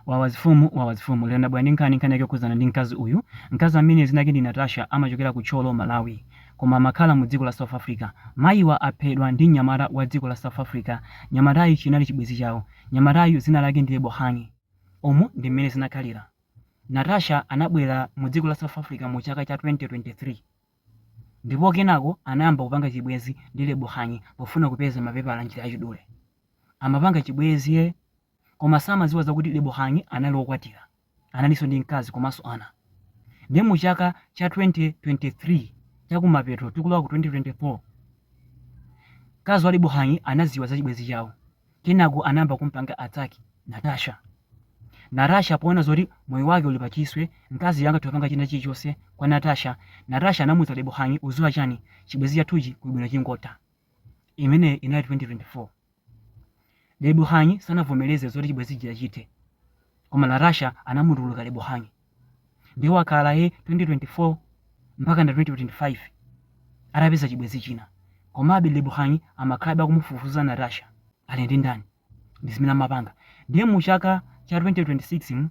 Wawa zifumu wawa zifumu lero ndabwera ndi nkhani nkhani yake yokhudzana ndi mkazi uyu mkazi amene dzina lake ndi Natasha amachokera ku Thyolo Malawi koma amakhala mu dziko la South Africa mayiwa aphedwa ndi mnyamata wa dziko la South Africa mnyamatayu chinali chibwezi chawo mnyamatayu dzina lake ndi Lebohang umu ndi mmene zinakhalira Natasha anabwera mu dziko la South Africa mu chaka cha 2023 ndipo kenako anayamba kupanga chibwezi ndi Lebohang pofuna kupeza mapepala njira yachidule amapanga chibwezi ye koma samadziwa zakuti Lebohang anali wokwatira, analinso ndi mkazi komanso ana. Ndiye mu chaka cha 2023, chakumapeto tikulowa ku 2024, mkazi wa Lebohang anadziwa za chibwenzi chawo. Kenako anayamba kum'panga attack Natasha. Natasha poona zoti moyo wake uli pachiswe, mkaziyo angathe kupanga china chilichonse kwa Natasha, Natasha anamuuza Lebohang, udziwa chani, chibwenzi chathuchi kuli bwino chingotha. Imeneyo inali 2024. Lebohang sanavomereze zoti chibwenzi chija chithe, koma Natasha anamutuluka Lebohang. Ndiye wakhala he 2024 mpaka na 2025 atapeza chibwenzi china. Komabe Lebohang amakhalabe akumufufuza Natasha. Ali ndi ndani? Ndi zimene amapanga. Ndiye mu chaka cha 2026 mu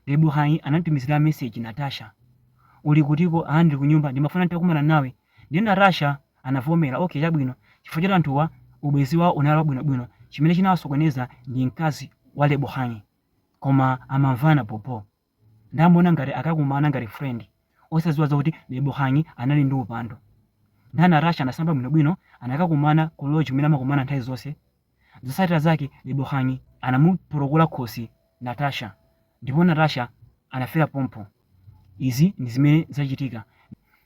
Lebohang anamutumizira message, Natasha, uli kutiko? Aa, ndili kunyumba. Ndimafuna nditakumana nawe. Ndiye Natasha anavomera. Okay, chabwino. Chifukwa choti anthuwa ubwenzi wawo unali wabwinobwino, chimene chinawasokoneza ndi mkazi wa Lebohang. Koma amamvana bhobho. Nde amaona ngati akakumana ngati friend, osadziwa zoti Lebohang anali ndi upandu. Ndiye Natasha anasamba bwinobwino, anakakumana ku lodge kumene amakumana nthawi zonse. Zotsatira zake Lebohang anamupotokola khosi Natasha ndipo Natasha anafera pompo. Izi ndi zimene zachitika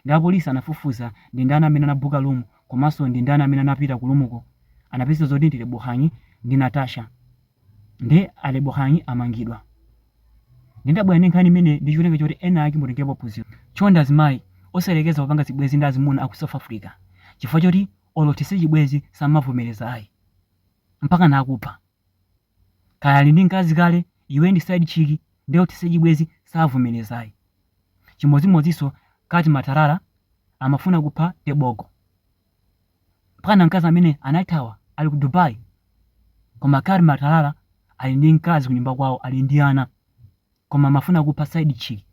ndi apolisi anafufuza ndi ndani amene anabooka room komanso ndi ndani amene anapita ku room ko anapeza zoti ndi Lebohang ndi Natasha nde Lebohang amangidwa. Nde ndabwera ndi nkhani imeneyi ndi cholinga choti ena ake mutengerepo phunziro. Chonde azimayi osayerekeza kupanga zibwenzi ndi azimuna aku South Africa chifukwa choti olo uthetse chibwezi samavomereza ayi mpaka nakupha kaya ali ndi mkazi kale iwe ndi side chick nde olo uthetse chibwezi savomereza ayi chimodzimodzinso Cat Matlala amafuna kupha Tebogo mpaka na mkazi amene anathawa ali ku Dubai koma Cat Matlala ali ndi mkazi kunyumba kwawo ali ndi ana koma amafuna kupha side chick.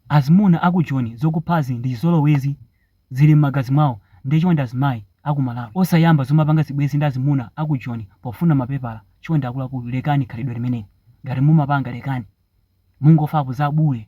Azimuna aku Joni zokuphazi ndi chizolowezi zili mmagazi mwawo nde chonde azimayi aku Malawi osayamba zomapanga zibwezi ndi azimuna aku Joni pofuna mapepala chonde akuluakulu lekani khalidwe limeneli ngati mumapanga lekani mungofapo za bule.